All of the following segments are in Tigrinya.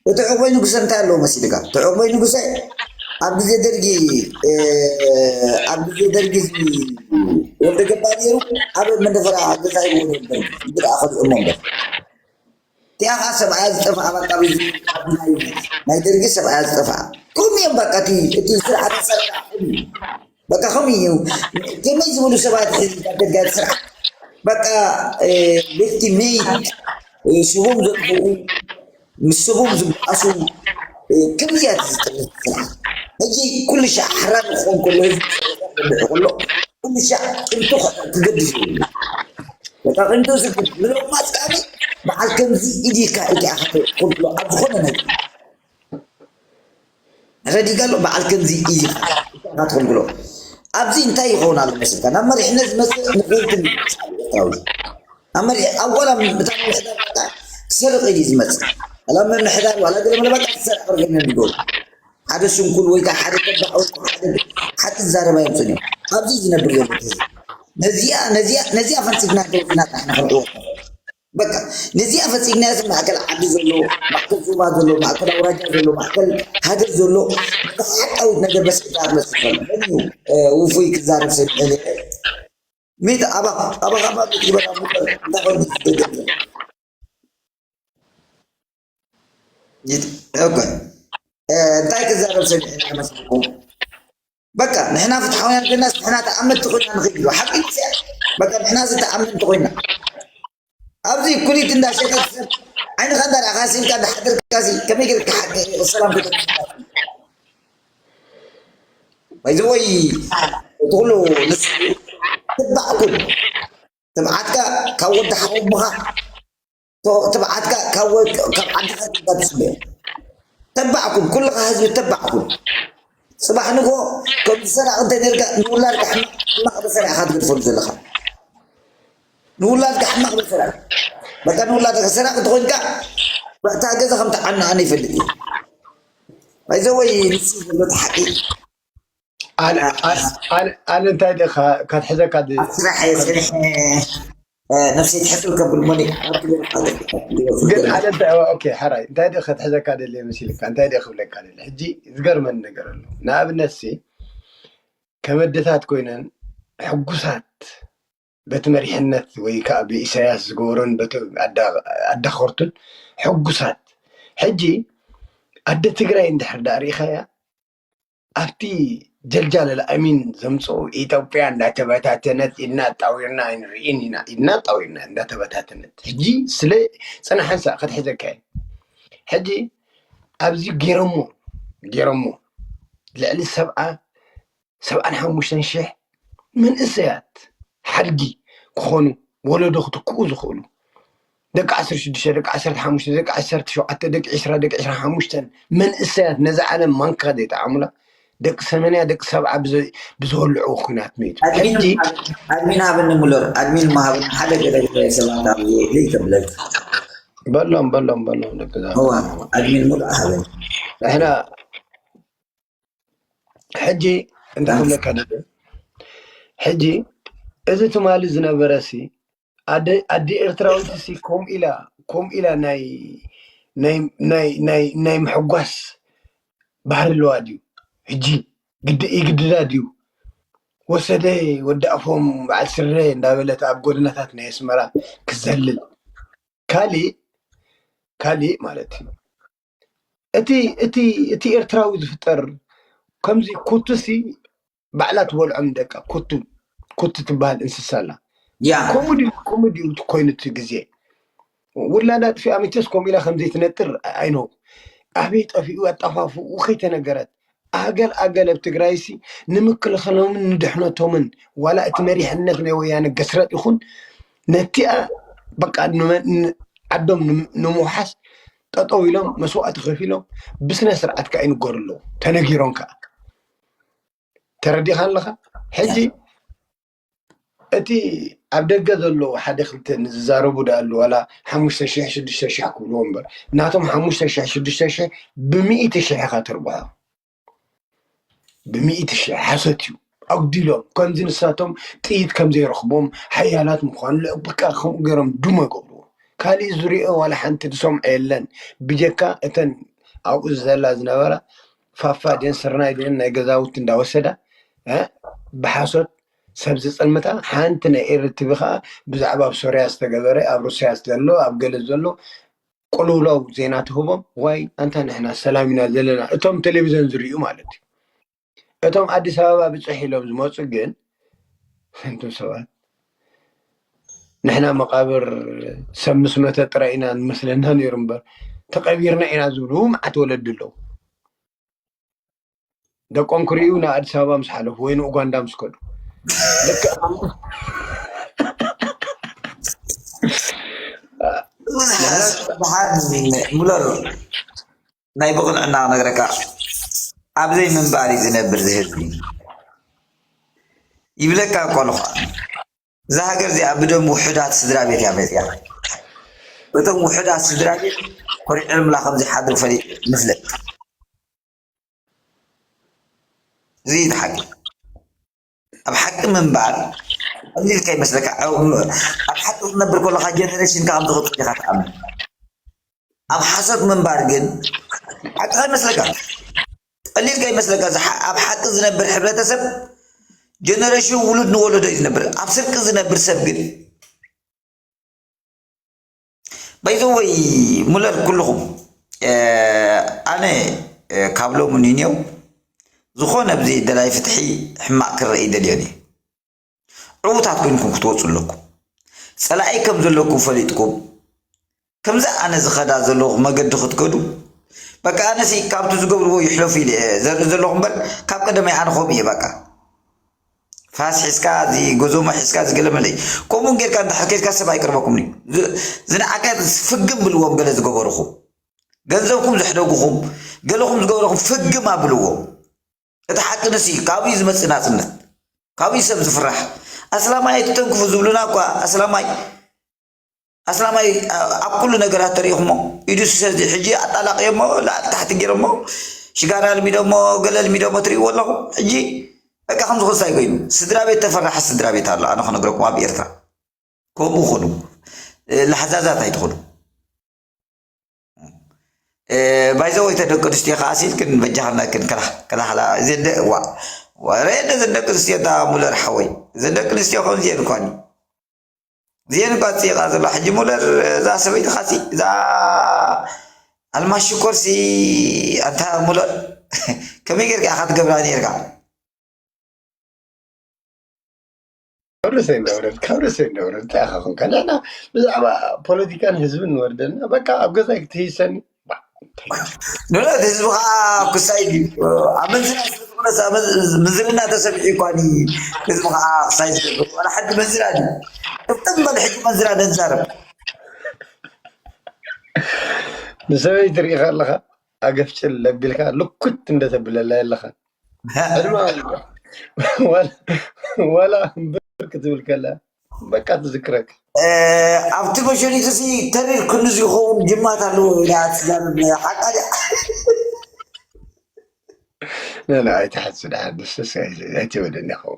እቲ ዕቑበይ ንጉሰ እንታይ ኣለዎ መሲልካ ትዕቑበይ ንጉሰ ኣብ ግዜ ደርጊ ኣብ ግዜ ደርጊ ወልደ ገባ ነይሩ ኣብ መንደፈራ ገዛ ሂቦ ነይሩ ደርጊ ሕጂ ደኣ ከሊኦሞ እምበር እቲኣ ከዓ ሰብኣያ ዝጠፍኣ በቃ ናይ ደርጊ ሰብኣያ ዝጠፍኣ ከምኡ እዮም በቃ እቲ ስርዓት ኣሰራርሓ ከምኡ በቃ ከምኡ እዩ ከመይ ዝብሉ ሰባት ደጋፊ ስርዓት በቃ ቤቲ ሜይት ስቦም ዘጥፍኡ ምስ ስቦም ዝብኣሱ ከምዚ እያ ዝጠልብ ስርዓት ሕጂ ኩሉ ሻዕ ኣሕራር ክኾን ከሎ ህዝቢ ዝርብሑ ከሎ ኩሉ ሻዕ ቅንጡ ክገድፍ ይብሉ በቃ ቅንጡ ዝብል ምሎማስ ከዓኒ በዓል ከምዚ ኢዲካ ኢካ ኢካ ትብሎ ኣብ ዝኾነ ነገር ረዲጋሎ በዓል ከምዚ ኢዚ ኢካ ኢካ ትክልክሎ ኣብዚ እንታይ ይከውን ኣሎ መስልካ ናብ መሪሕነት ዝመጽእ ንኩልኩም ይስዓብ ኤርትራዊ ኣብ መሪሕ ኣብ ዋላ እታ ምምሕዳር በቃ ክሰርቅ ኢዩ ዝመጽእ ዋላ ምምሕዳር ዋላ ገለ መለ በቃ ክሰርቅ ርግም እዮም ዝገብሩ ሓደ ስንኩል ወይ ከዓ ሓደ ተባዕ ወይ ሓደ ሓቂ ዝዛረብ ኣየምጽኡን እዮም ኣብዚ ዝነብር ዘሎ ህዝቢ ነዚኣ ነዚኣ ነዚኣ ፈንጺፍና ደውና ጥራሕ ንክንዕወት ንኽእል በቃ ነዚኣ ፈጺምናያ እዚ ማእከል ዓዲ ዘሎ ማእከል ዞባ ዘሎ ማእከል ኣውራጃ ዘሎ ማእከል ሃገር ዘሎ ነታ ሓቃዊት ነገር በስ ክዛረብ መስፈል መን እዩ ውፉይ ክዛረብ ሰሚዐ ነይረ ሚት ኣባ ኣባኻ ባብ ትግበራ ሙበር እንታይ ኮይኑ ዝደገም ዘሎ ሕጎይ እንታይ ክዛረብ ሰሚዐ መስለኩም በቃ ንሕና ፍትሓውያን ኮይናስ ንሕና ተኣመንቲ ኮይና ንኽእል ኢሉ ሓቂ ዚኣ በቃ ንሕና እዚ ተኣመንቲ ኮይና ኣብዚ ኩሊት እንዳሸጠት ሰብ ዓይንኻ እንዳርኣኻ ሲልካ እንዳሓደርካ ሲ ከመይ ጌርካ ሓቂ ሰላም ክተ ባይዘወይ እቲ ኩሉ ንስ ትባዕ ኩን ትብዓትካ ካብ ወዲ ሓወሙኻ ትብዓትካ ካብ ወልቂ ካብ ዓድኻ ትባል ትስምዮ ተባዕ ኩን ኩልኻ ህዝቢ ተባዕ ኩን ጽባሕ ንጎ ከም ዝሰራቕ እንተ ነርካ ንውላድካ ሕማቕ መሰራ ኢኻ ትገድፈሉ ዘለኻ ንውላድካ ሕማቕ መሰራ በቃ ንውላድካ ሰራቕ እንተኾይንካ በእታ ገዛ ከም ትዓና ኣነ ይፈልጥ እዩ ባይዘወይ ንሱ ዘሎ ሓቂ ኣነ እንታይ ደኻ ከትሕዘካ ስራሕ ስራሕ ነብሰይ ትሕትል ከብል ሞኒክ ግን ኣነ እንታይ ኦኬ ሓራይ እንታይ ደ ከትሕዘካ ደልየ መሲልካ እንታይ ደ ክብለካ ደል ሕጂ ዝገርመን ነገር ኣሎ ንኣብነት ሲ ከበድታት ኮይነን ሕጉሳት በቲ መሪሕነት ወይ ከዓ ብኢሳያስ ዝገበሮን በቲ ኣዳኸርቱን ሕጉሳት ሕጂ ኣደ ትግራይ እንድሕር ዳኣ ርኢኻያ ኣብቲ ጀልጃለ ልኣሚን ዘምፅኡ ኢትዮጵያ እንዳተበታተነት ኢድና ኣጣዊርና ኣይንርኢን ኢና ኢድና ኣጣዊርና እንዳተበታተነት ሕጂ ስለ ፅናሓንሳ ከትሕዘካ ሕጂ ኣብዚ ገይረሞ ገይረሞ ልዕሊ ሰብኣ ሰብኣን ሓሙሽተን ሽሕ መንእሰያት ሓድጊ ክኾኑ ወለዶ ክትክኡ ዝኽእሉ ደቂ ዓሰርተ ሽዱሽተ፣ ደቂ ዓሰርተ ሓሙሽተ፣ ደቂ ዓሰርተ ሸውዓተ፣ ደቂ ዕስራ፣ ደቂ ዕስራን ሓሙሽተን መንእሰያት ነዛ ዓለም ማንካ ዘይጠዓሙላ፣ ደቂ ሰመንያ፣ ደቂ ሰብዓ ብዝወልዕዎ ኲናት መይቱ። ሕጂ። ኣድሚን ሃብኒ ሙለር ኣድሚን እሞ ሃብኒ ሓደ ገለ ገለ ሰባት ኣብየ እልል ከብለልካ። በሎም በሎም በሎም ደቂ እዛ እዋ ከተማ። ኣድሚን ሙሉኣ ሃበኒ። ንሕና። ሕጂ እንታይ ክብለካ ደልየ ሕጂ እዚ ትማሊ ዝነበረ ሲ ኣደ ኣደ ኤርትራዊት ሲ ከምኡ ኢላ ከምኡ ኢላ ናይ ናይ ናይ ናይ ናይ ምሕጓስ ባህሪ ኣለዋ ድዩ ሕጂ ግድ ይግድዳ ድዩ ወሰደ ወዲ ኣፎም በዓል ስረ እንዳበለት ኣብ ጎደናታት ናይ ኣስመራ ክትዘልል ካሊእ ካሊእ ማለት እዩ እቲ ኤርትራዊ ዝፍጠር ከምዚ ኩቱ ሲ ባዕላ ትበልዖ ንደቃ ኩቱ ኩቱ ትበሃል እንስሳ ኣላ ከምኡ ድዩ ከምኡ ድዩ ኮይኑ እቲ ግዜ ውላዳ ኣጥፊኣ መቸስ ከምኡ ኢላ ከምዘይትነጥር ኣይ ኖው ኣበይ ጠፊኡ ኣጠፋፍኡ ከይተነገረት ኣገል ኣገል ኣብ ትግራይሲ ንምክልኸሎምን ንድሕነቶምን ዋላ እቲ መሪሕነት ናይ ወያነ ገስረጥ ይኹን ነቲኣ በቃ ዓዶም ንምውሓስ ጠጠው ኢሎም መስዋእቲ ከፊሎም ብስነ ስርዓት ከዓ ይንገሩ ኣለዉ ተነጊሮም ከዓ ተረዲኻ ኣለኻ ሕጂ እቲ ኣብ ደገ ዘለዉ ሓደ ክልተ ንዝዛረቡ ድኣሉ ዋላ ሓሙሽተ ሽሕ ሽዱሽተ ሽሕ ክብልዎ እምበር ናቶም ሓሙሽተ ሽሕ ሽዱሽተ ሽሕ ብሚእቲ ሽሕ ኢኻ ተርብሖ ብሚእቲ ሽሕ ሓሶት እዩ ኣጉዲሎም ከምዚ ንሳቶም ጥይት ከም ዘይረኽቦም ሓያላት ምዃኑ ልዕብቃ ከምኡ ገይሮም ድሞ ይገብርዎ ካሊእ ዝሪኦ ዋላ ሓንቲ ዝሰምዖ የለን ብጀካ እተን ኣብኡ ዝዘላ ዝነበራ ፋፋ ድየን ስርናይ ድየን ናይ ገዛውቲ እንዳወሰዳ እ ብሓሶት ሰብ ዝጽልምታ ሓንቲ ናይ ኤሪ ቲቪ ከኣ ብዛዕባ ኣብ ሶርያ ዝተገበረ ኣብ ሩስያ ዘሎ ኣብ ገለ ዘሎ ቁልውላው ዜና ትህቦም ዋይ ኣንታ ንሕና ሰላም ኢና ዘለና እቶም ቴሌቪዝን ዝርእዩ ማለት እዩ እቶም ኣዲስ ኣበባ ብጽሕ ኢሎም ዝመጹ ግን እንቱም ሰባት ንሕና መቓብር ሰብ ምስ መተ ጥራይ ኢና ዝመስለና ነይሩ እምበር ተቐቢርና ኢና ዝብሉ መዓት ወለዲ ኣለዉ። ደቆም ክርእዩ ንኣዲስ ኣበባ ምስ ሓለፉ ወይ ንኡጋንዳ ምስ ከዱ ሙለር ናይ ብቕንዕና ክነግረካ ኣብ ዘይምንባር እዩ ዝነብር እዚ ህዝቢ ይብለካ እኮ ኣለኳ እዛ ሃገር እዚኣ ብደም ውሑዳት ስድራ ቤት እያ መፅያ እቶም ውሑዳት ስድራ ቤት ኮሪዕልምላ ከምዝሓድሩ ፈሊ ንፍለጥ እዚ እዩ ሓቂ ኣብ ሓቂ ምንባር ቀሊል ከይመስለካ ኣብ ሓቂ ክትነብር ከለካ ጀነሬሽንካ ከም ትቕፅል ኢኻ ትኣምን ኣብ ሓሶት ምንባር ግን ሓቂ ከይመስለካ ቀሊል ከይመስለካ ኣብ ሓቂ ዝነብር ሕብረተሰብ ጀነሬሽን ውሉድ ንወለዶ እዩ ዝነብር ኣብ ስርቂ ዝነብር ሰብ ግን ባይ ዘ ወይ ሙለር ኩልኹም ኣነ ካብ ሎሚ ንኔው ዝኾነ ብዚ ደላይ ፍትሒ ሕማቕ ክረኢ ደልዮን እዩ ዕዉታት ኮይንኩም ክትወፁ ኣለኩም ፀላኢ ከም ዘለኩም ፈሊጥኩም ከምዚ ኣነ ዝኸዳ ዘለኹ መገዲ ክትከዱ በቃ ኣነሲ ካብቲ ዝገብርዎ ይሕለፉ ኢለ እየ ዘርኢ ዘለኹ እምበር ካብ ቀደመይ ኣነ ከምኡ እየ በቃ ፋስ ሒዝካ እዚ ጉዝሞ ሒዝካ እዚ ገለ መለ እዩ ከምኡ ጌርካ እንድሕር ኬድካ ሰብ ኣይቅርበኩምን እዩ ዝነዓቀ ፍግም ብልዎም ገለ ዝገበርኹም ገንዘብኩም ዘሕደጉኹም ገለኹም ዝገበረኹም ፍግም ኣብልዎ እቲ ሓቂ ንስ እዩ ካብኡ እዩ ዝመፅእ ናፅነት ካብኡ እዩ ሰብ ዝፍራሕ ኣስላማይ ኣይትተንክፉ ዝብሉና እኳ ኣስላማይ ኣስላማይ ኣብ ኩሉ ነገራት ተሪኢኹሞ ኢዱ ሰዚ ሕጂ ኣጣላቅዮሞ ላዕሊ ታሕቲ ጌሮሞ ሽጋራ ኣልሚዶሞ ገለ ኣልሚዶሞ ትሪኢዎ ኣለኹም ሕጂ በቃ ከምዚ ኮንሳይ ኮይኑ ስድራቤት ተፈራሒ ስድራቤት ኣሎ ኣነ ክነግረኩም ኣብ ኤርትራ ከምኡ ኩኑ ላሕዛዛት ኣይትኹኑ ባይዘወይ ተደቂ ኣንስትዮ ከዓ ሲልክን በጃኽና ክን ከላ ከላኸላ ዘደ ዋ ወረ ዘደቂ ኣንስትዮ እታ ሙለር ሓወይ ዘደቂ ኣንስትዮ ከምዚ የን ኳኒ ዜንባ ፅይቃ ዘሎ ሕጂ ሙለር እዛ ሰበይቲ ካሲ እዛ ኣልማሽ ሽኮርሲ ኣንታ ሙለር ከመይ ጌርካ ኢኻ ትገብራ ኔርካ ካብ ርእሰይ እንዳውረድ ካብ ርእሰይ እንዳውረድ እንታይ ኢኻ ኮንካ ንሕና ብዛዕባ ፖለቲካን ህዝብን ንወርደና በቃ ኣብ ገዛይ ክትህይሰኒ ዶናት ህዝቢ ከዓ ክሳይ ድዩ ኣመንዝራ ስለዝኾነስ ምዝርና ተሰሚዑ ይኳኒ ህዝቢ ከዓ ክሳይ ዝገብር ዋላ ሓዲ መንዝራ ድዩ ቅጥም በል ሕጂ መንዝራ ነዛረብ ንሰበይቲ ትርኢ ከለኻ ኣገፍጭል ለቢልካ ልኩት እንደተብለላ የለኻ ዕድማ ዋላ ብር ክትብል ከላ በቃ ትዝክረካ ኣብቲ መሸኒት እዚ ተሪር ክንዲ ዝኸውን ጅማት ኣለዎ ኢላ ትዛረብ ሓቃ ድያ ነነ ኣይትሓሱ ድሓር ንስስ ኣይትበለኒ ኸው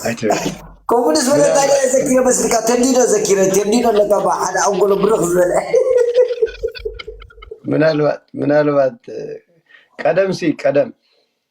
ኣይትበለኒ ከምኡ ንዝበለ እንታይ ምናልባት ድያ ዘኪረ መስልካ ተንዲዶ ዘኪረ ተንዲዶ ኣለካ ባ ሓደ ኣንጎሎ ብርኽ ዝበለ ምናልባት ምናልባት ቀደም ሲ ቀደም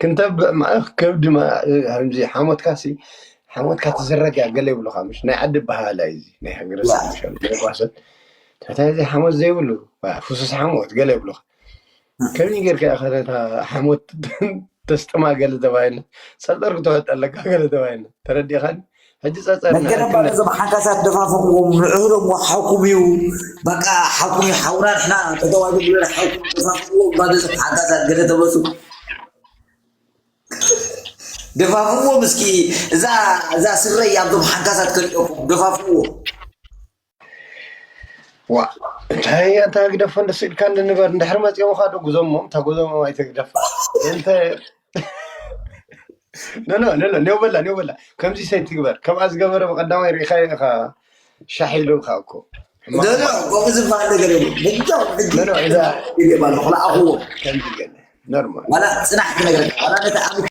ክንተብዕ ማእኽ ከብዲ ከምዚ ሓሞትካ ሲ ሓሞትካ ትዝረግያ ገለ ይብሉካ ምሽ ናይ ዓዲ በሃላ እዩ እዚ ናይ ሃገረሰብ ምሽ ጓሰት ትሕታይ ዘይ ሓሞት ዘይብሉ ፍሱስ ሓሞት ገለ ይብሉካ ከምዚ ጌርካ ከታ ሓሞት ተስጥማ ገለ ተባሂልና ፀጠር ክተወጥ ኣለካ ገለ ተባሂልና ተረዲኻኒ ሕጂ ጸጸር መገደም ባዶ ንዕክነት ዞም ሓንካሳት ደፋፍኹም ንዕህሎም ሓውኩም እዩ በቃ ሓውኩም እዩ ሓውና ንሕና ጠጠው ኣይትብሉን ሓውኩም ደፋፍኹም ባዶ ዞም ሓንካሳት ገለ ተመጹ ደፋፍዎም እስኪ እዛ እዛ ስረይ ኣብዞም ሓንካሳት ከሊኦኩም ደፋፍዎም ዋ እንታይ ኣንታ ግደፎ እንደ ስኢልካ እንደ ንበር እንድሕሪ መፂኦም ኻዶ ጉዞሞ እታ ጉዞሞ ኣይተግደፋ እንተ ነኖ ነኖ ኔው በላ ኔው በላ ከምዚ ሰይ ትግበር ከምኣ ዝገበረ ብቀዳማይ ርኢኻዮ ኢኻ ሻሕ ኢሉ ኢኻ እኮ ሕማቕ ነኖ እኮ ከምኡ ዝበሃል ነገር የብሉ ብጃው ሕጂ ነኖ እዛ ይገባ ኣለኹ ንኣኹዎ ከምዚ ገለ ኖርማል ዋላ ፅናሕ ክነግረካ ዋላ ነቲ ኣብ